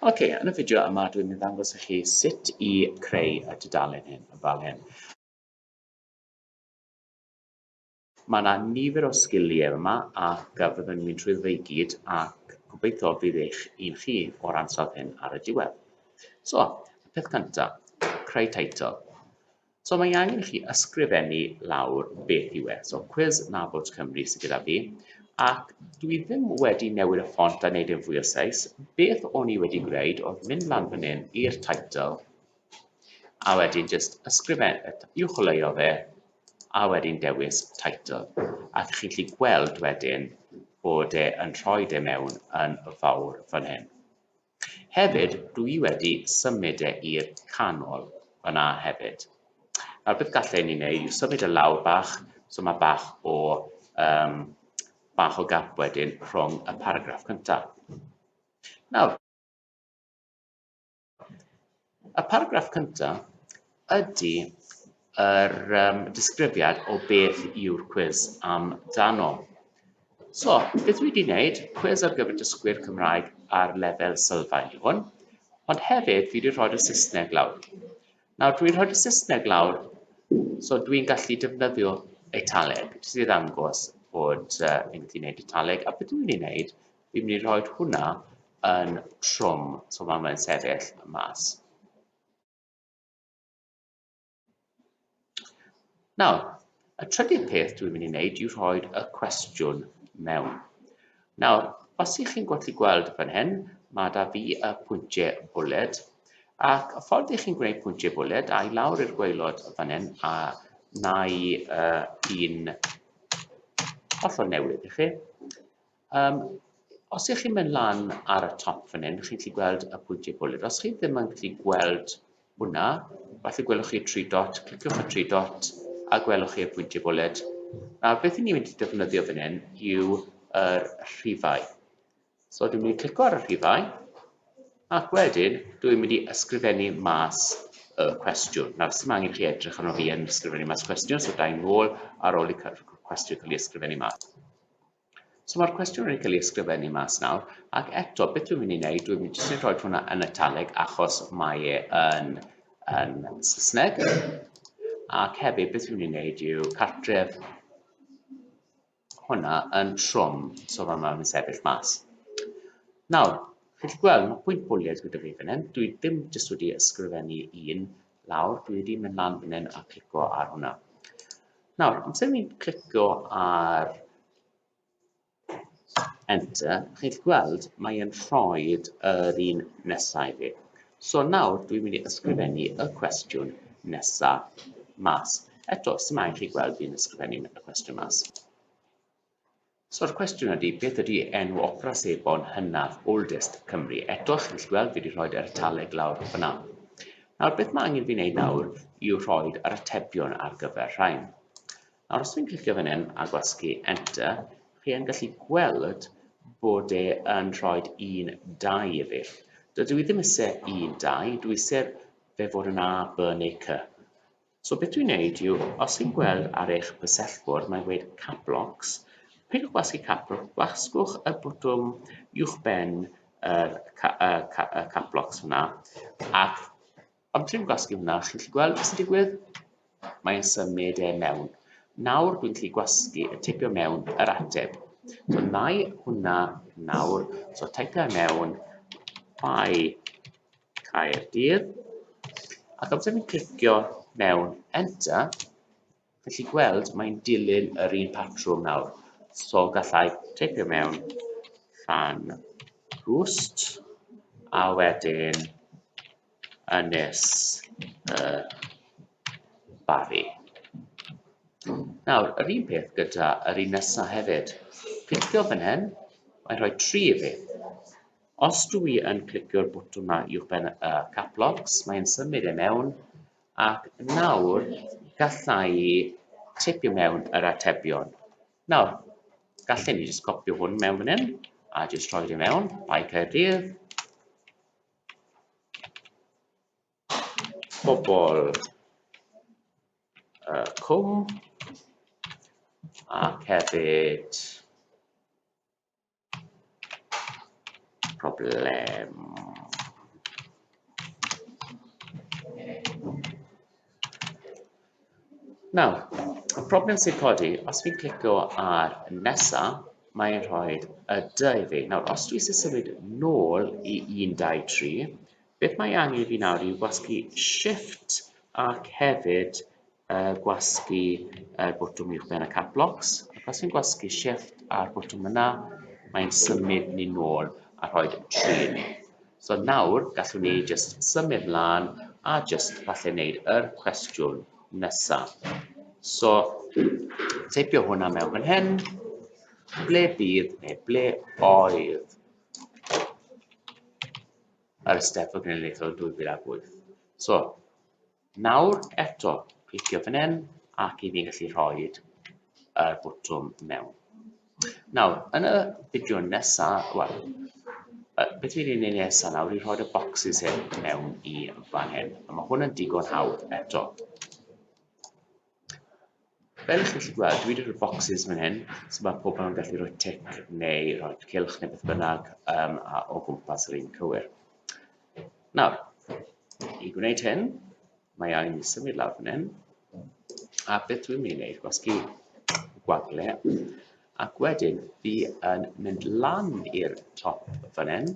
Ok, yn y fideo yma dwi'n mynd ddangos i chi sut i creu y dudalen hyn yn fel hyn. Mae yna nifer o sgiliau yma ac a fyddwn ni'n trwy fe i gyd ac gobeithio bydd eich un chi o'r ansawdd hyn ar y diwedd. So, y peth cyntaf, creu teitl. So mae angen i chi ysgrifennu lawr beth yw e. So cwis nabod Cymru sydd gyda fi, ac dwi ddim wedi newid y ffont a wneud yn fwy o seis. Beth o'n i wedi gwneud oedd mynd lan fan hyn i'r title, a wedyn jyst ysgrifen, uwcholeuo fe, a wedyn dewis title. A chi'n gallu gweld wedyn bod e yn rhoi e mewn yn fawr fan hyn. Hefyd, dw i wedi symud e i'r canol fan'na hefyd. Nawr beth gallen ni wneud yw symud e lawr bach, so mae bach o um, bach o gap wedyn rhwng y paragraff cyntaf. Nawr, Y paragraff cyntaf ydy yr um, disgrifiad o beth yw'r cwis am dano. So, beth wedi wneud, cwis ar gyfer dysgwyr Cymraeg ar lefel sylfaen i hwn, ond hefyd fi wedi rhoi y Saesneg lawr. Nawr, dwi'n rhoi y Saesneg lawr, so dwi'n gallu defnyddio italeg, jyst i ddangos bod uh, fi'n gallu gwneud italeg, a beth dwi'n ei wneud, Fi'n mynd i rhoi hwnna yn trwm, so mae fe'n sefyll mas. Nawr, y trydydd peth dwi'n mynd i wneud yw rhoi y cwestiwn mewn. Nawr, os ych chi'n gwallu gweld fan hyn, mae da fi y pwyntiau bwled, ac y ffordd ych chi'n gwneud pwyntiau bwled, a i lawr i'r gweilod fan hyn, a na i uh, un hollol newydd i chi, Um, os ych chi'n mynd lan ar y top fan hyn, chi'n gallu gweld y pwyntiau bwled. Os chi ddim yn gallu gweld hwnna, falle gwelwch chi tri dot, cliciwch y tri dot a gwelwch chi'r pwyntiau bwled. Nawr, beth i ni'n mynd i defnyddio fan hyn yw y rhifau. So, dwi'n mynd i clicio ar y rhifau, ac wedyn, dwi'n mynd i ysgrifennu mas y cwestiwn. Nawr, sy'n angen chi edrych arno fi yn ysgrifennu mas cwestiwn, so da i'n ôl ar ôl i cwestiwn cael ei ysgrifennu mas. So mae'r cwestiwn wedi cael ei ysgrifennu mas nawr, ac eto, beth dwi'n mynd i wneud, dwi'n mynd i roi hwnna yn italig achos mae e yn, yn Saesneg, ac hefyd beth dwi'n mynd i wneud yw cartref hwnna yn trwm, so fe mae'n sefyll mas. Nawr, chi'n gweld, mae pwynt bwliad gyda fi fan hyn, dwi ddim jyst wedi ysgrifennu un, lawr, dwi wedi mynd lan fan hyn a clicio ar hwnna. Nawr, amser ni'n clicio ar enter, chi'n gweld mae'n rhoi yr un nesau fi. So nawr dwi'n mynd i ysgrifennu y cwestiwn nesaf mas. Eto, sy'n mae'n chi gweld fi'n ysgrifennu y cwestiwn mas. So'r cwestiwn ydi, beth ydi enw opera sebon hynaf, oldest, Cymru? Eto, chi'n gallu gweld fi wedi rhoi'r ertaleg lawr fyna. Nawr, beth mae angen fi wneud nawr yw rhoi'r yr atebion ar gyfer rhain. Nawr, os fi'n clicio fan hyn a gwasgu Enter, chi yn gallu gweld bod e yn rhoi un dau i fi. Dydw i ddim eisiau un dau, dwi eisiau fe fod yn A, B neu C. So beth dwi'n neud yw, os chi'n gweld ar eich bysellfwrdd mae'n gweud Cap Locks, peidiwch gwasgu Cap Locks, gwasgwch y botwm uwchben yr Cap Locks hwnna, ac am trin gwasgu hwnna, chi'n gallu gweld beth sy'n digwydd? Mae'n symud e mewn. Nawr dwi'n gallu gwasgu y tipio mewn yr ateb. So na i hwnna nawr, so typio mewn by Caerdydd, ac amser fi'n clicio mewn enter, felly gweld mae'n dilyn yr un patrwm nawr. So gallai teipio mewn fan rhwst a wedyn ynys y bari. Nawr, yr un peth gyda yr un nesaf hefyd. Clicio fan hyn, mae'n rhoi tri i fi. Os dw i yn clicio'r botwm 'ma uwchben y caplocks, mae'n symud e mewn, ac nawr galla i teipio mewn yr atebion. Nawr, gallen ni jyst copio hwn mewn fan hyn, a jyst rhoi fe mewn, Bae Caerdydd, pobl uh, cwm, ac hefyd Problem. Nawr, y problem sy'n codi, os fi'n clicio ar nesa, mae'n rhoi y dy i fi. Nawr, os dwi eisiau symud nôl i 1, 2, 3, Beth mae angen i fi nawr yw gwasgu shift ac hefyd uh, gwasgu uh, botwm uwch ben y cap locks. Ac os fi'n gwasgu shift a'r botwm yna, mae'n symud ni nôl a rhoi trin. So nawr gallwn ni just symud mlaen a just falle wneud yr cwestiwn nesaf. So teipio hwnna mewn fan hyn, ble bydd neu ble oedd yr Eisteddfod Genedlaethol 2008. So, nawr eto, clicio fan hyn ac i fi gallu rhoi y botwm mewn. Nawr, yn y fideo nesaf, wel, beth fi'n ei wneud nesaf nawr i rhoi y boxes hyn mewn i fan hyn. A mae hwn yn digon hawdd eto. Fel chi'n gallu gweld dwi 'di roi bocsys fan hyn so ma' pobl yn gallu roi tic neu roi cylch neu beth bynnag yym a o gwmpas yr un cywir. Nawr, i gwneud hyn, mae angen i symud lawr fan hyn a beth dwi'n mynd i wneud, gwasgu gwagle ac wedyn fi yn mynd lan i'r top fan hyn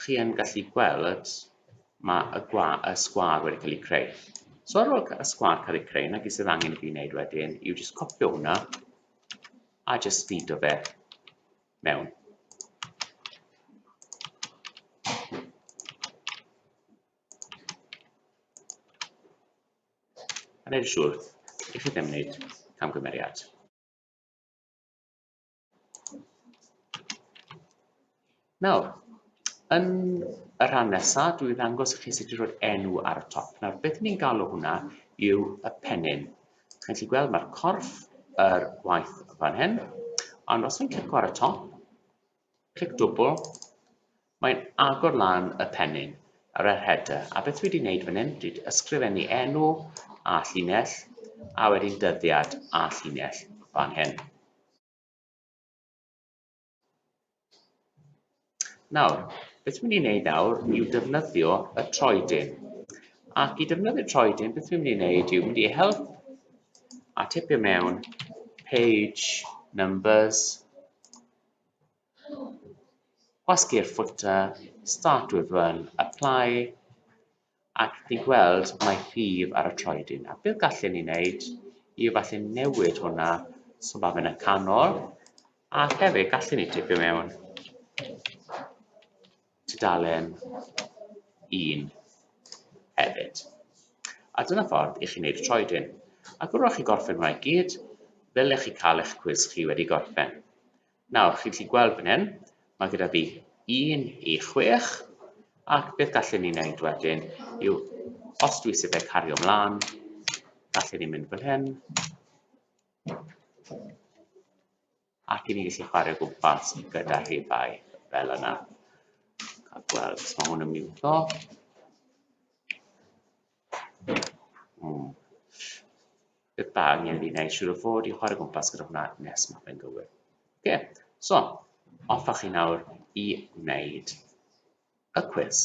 chi yn gallu gweld mae y, gwa, y sgwar wedi cael ei creu. So ar ôl y sgwar cael ei creu, na gyd sydd angen i fi wneud wedyn yw jyst copio hwnna a jyst feed o fe mewn. A neud siwr i chi ddim wneud camgymeriad. Nawr, yn y rhan nesaf, dwi'n ddangos i chi sut i roi'r enw ar y top. Nawr, beth ni'n galw hwnna yw y pennin. Chi'n gallu gweld mae'r corff yr gwaith fan hyn, ond os fi'n clicio ar y top, clic dwbl, Mae'n agor lan y pennyn ar yr header, a beth dwi wedi wneud fan hyn, dwi wedi ysgrifennu enw a llinell, a wedyn dyddiad a llinell fan hyn. Nawr, beth dwi'n mynd i wneud nawr yw defnyddio y troedyn. Ac i defnyddio troedyn, beth dwi'n mynd i wneud yw mynd i help a tipio mewn page numbers Gwasgu'r footer, start with run, apply, ac chi'n gweld mae llif ar y troedyn. A beth gallen ni wneud i falle newid hwnna, so mae fe'n y canol, a hefyd gallen ni tipio mewn tudalen un hefyd. A dyna ffordd i chi wneud y troedyn. Ac wrwch chi gorffen hwnna i gyd, fel ych chi cael eich cwis chi wedi gorffen. Nawr, chi'n gallu gweld fan hyn, mae gyda fi 1 i 6, ac beth gallwn ni wneud wedyn yw, os dwi eisiau fe cario ymlaen, gallwn ni mynd fan hyn, ac i ni gallu chwarae gwmpas gyda rhifau fel yna. Cael gweld os mae hwn yn miwto. Mm. Beth ba, angen fi wneud siŵr o fod i chwarae gwmpas gyda hwnna nes mae fe'n gywir. Oce, okay. so, offa chi nawr i wneud y cwis.